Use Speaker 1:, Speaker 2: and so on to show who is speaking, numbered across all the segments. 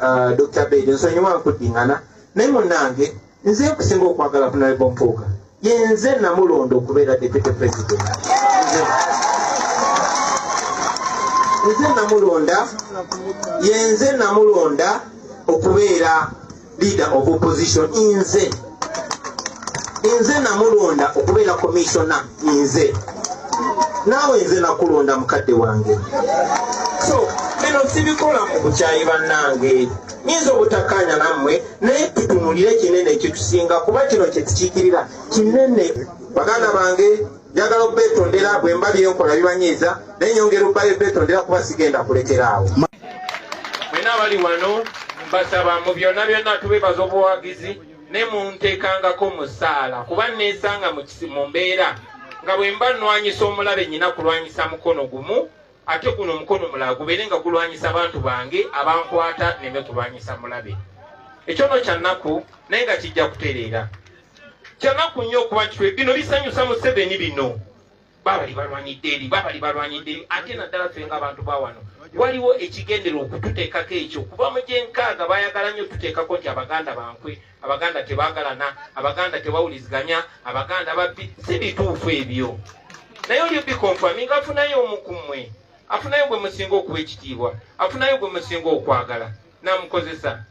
Speaker 1: uh, dr bed nsonyiwa nkuddingana naye munange nze nkusinga okwagala kunalebo mpuuga yenze namulonda okubeera deputy president nze namulonda yenze namulonda okubeera leader of opposition inze nze namulonda okubeera komisiona nze naawe nze nakulonda mukadde wange so bino sibikola mu bukyayi bannange nyinza obutakkaanya nammwe naye tutunulire kinene kyetusinga kuba kino kyetukiikirira kinene baganda bange njagala okubetondera bwe mba byenkola bibanyiiza naye nyongera okuba ebetondera kuba sigenda kulekera awo mwena abali wano mbasaba mu byonna byonna tubebaza obuwagizi ne munteekangako musaala kuba neesanga mu mbeera nga bwe mba nnwanyisa omulabe nyina kulwanyisa mukono gumu ate guno omukono mulala gubeere nga gulwanyisa abantu bange abankwata neme kulwanyisa mulabe ekyono kyannaku naye nga kijja kutereera kyanaku nnyo okuba nti bino bisanyusa museveni bino babali balwanyidde eri babali balwanyidde eri ate naddala ffe ngaabantu bawano waliwo ekigendera okututeekako ekyo kuba mu gyenkaaga bayagala nnyo tuteekako nti abaganda bankwe abaganda tebagalana abaganda tebawuliziganya abaganda babbi si bituufu ebyo naye olyo bikonfami nga afunayo omu ku mmwe afunayo gwe musinga okuwa ekitiibwa afunayo gwe musinga okwagala namukozesa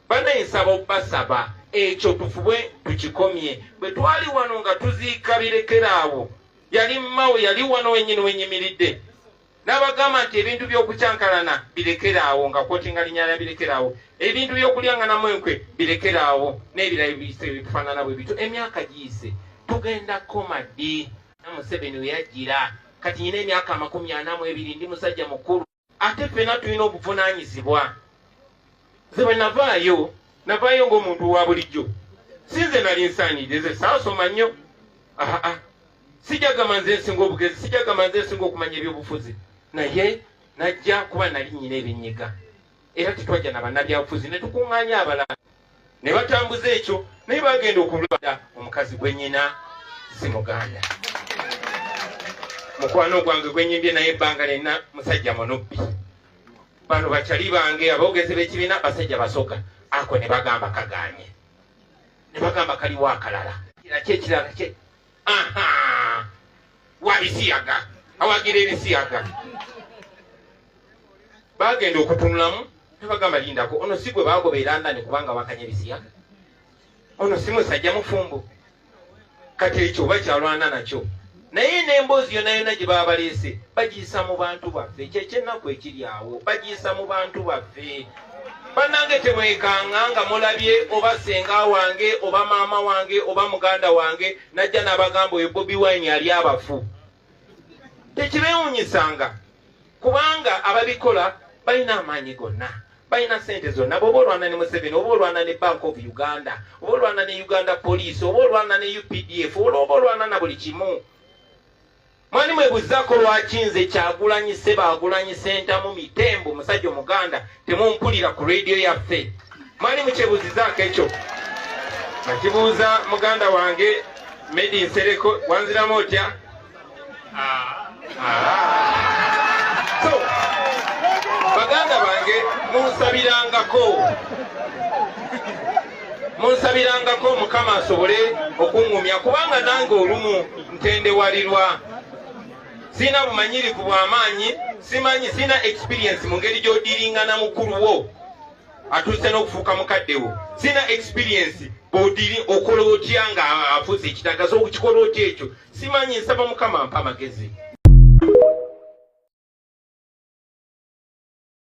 Speaker 1: Banaye nsaba obbasaba ekyo tufubwe tukikomye bwe twali wano nga tuziika birekera awo yali mmawo yali wano wenyini wenyimiridde n'abagamba nti ebintu by'okukyankalana birekera awo nga kwotinga linyala birekera awo ebintu by'okulyanganamu enkwe birekera awo n'ebirala biyise bitufaanana bwe bityo emyaka giyise tugenda koma ddi na museveni weyajjira kati nyina emyaka amakumi ana mu ebiri ndi musajja mukulu ate ffena tulina obuvunanyizibwa nze bwe navaayo navaayo ngaomuntu wa bulijjo si nze nali nsaanidde nze saasoma nnyo aa sijagamba nze nsinga obugezi sijagamba nze nsinga okumanya ebyobufuzi naye najja kuba nali nyina ebinyiga era tetwajja na bannabyabufuzi ne tukuŋŋaanya abalala ne batambuza ekyo naye bagenda okulwada omukazi gwe nyina si muganda mukwano gwange gwenyimbye naye ebbanga lyenna musajja munubbi bano bakyali bange aboogezi b'ekibiina basajja basoga ako ne bagamba kaganye ne bagamba kaliwo akalala kira kyekirala wabisiyaga awagira ebisiyaga bagenda okutunulamu nebagamba lindako ono si gwe bagobeera ndani kubanga wakanya ebisiyaga ono si musajja mufumbo kati ekyo oba kyalwana nakyo naye n'emboozi yona yona gye baba baleese bagiyisa mu bantu baffe kyekyennaku ekiri awo bagiyisa mu bantu baffe banange tebwekanga nga mulabye oba senga wange oba maama wange oba muganda wange najja nabagamba oyo bobi wine ali abafu tekibewunyisanga kubanga ababikola balina amaanyi gonna balina sente zonna bwoba olwana ne museveni oba olwana ne bank of uganda oba olwana ne uganda police oba olwana ne updf oba olwana na buli kimu Mwani mwe buzako lwaki nze kyagulanyi seba agulanyi sentamu mitembo musajja omuganda temumpulira ku radio yaffe mwani mukyebuzizaako ekyo akibuuza muganda wange medi nsereko wanziramu otya ah, ah. so baganda bange munsabirangako munsabirangako mukama asobole okuŋŋumya kubanga nange olumu ntendewalirwa sirina bumanyirivu bw'amaanyi simanyi sirina experiensi mu ngeri gy'odiringana mukulu wo atuuse n'okufuuka mukadde wo sirina experiensi bwodiri okola otya nga afuuse ekitagaza okukikola otya ekyo simanyi nsaba mukama mpa amagezi